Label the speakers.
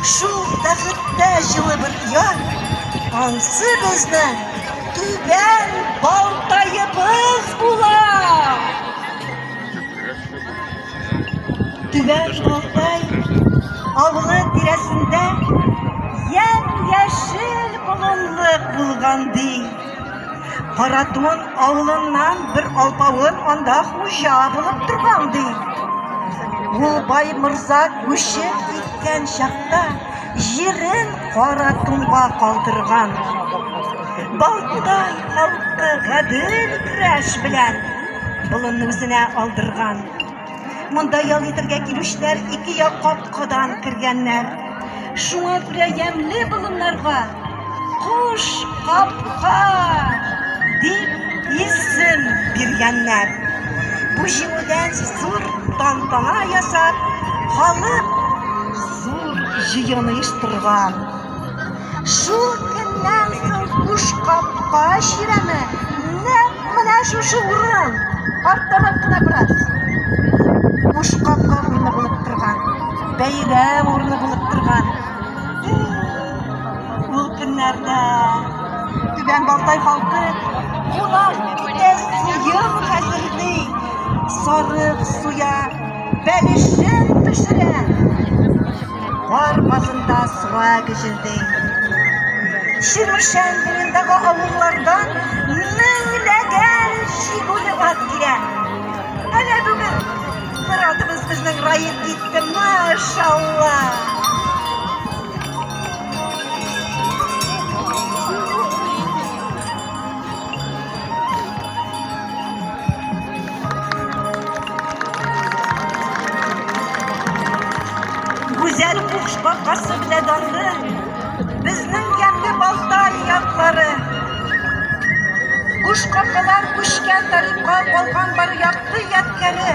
Speaker 1: Шул бәхеттә җылы бер яр, ансы безнең түбән балтаебыз була. Түбән балтай авылы тирәсендә ямь-яшел болынлык булган ди. Каратун авылыннан бер алпавыт анда хуҗа булып торган ди. Ул бай морза күчеп киткән чакта җирен Каратунга калдырган. Балтай халкы гадел көрәш белән болынны үзенә алдырган. Монда ял итәргә килүчеләр ике як капкадан кергәннәр. Шуңа күрә ямьле болыннарга Куш капка дип исем биргәннәр. Бу җиңүдән зур тантана ясап, халык зур җыен оештырган. Шул көннән соң куш капка чирәме нәкъ менә шушы урын, арттарак кына бераз. Куш капка урыны булып торган, бәйрәм урыны булып торган. Ул көннәрдә Түбән Балтай халкы кунак итә сыер хәзерли, сарык суя, бәлешен пешерә. Кар базында суа гөжелди. Чирмешән буендагы авыллардан меңләгән чигүле ат килә. Әнә бүген бер атыбыз безнең раеп китте, машалла. Гүзәл куш бакасы белән дарлы безнең ямьле Балтай яклары. Куш капкалар күчкән тарихка калган бар якты ядкәре.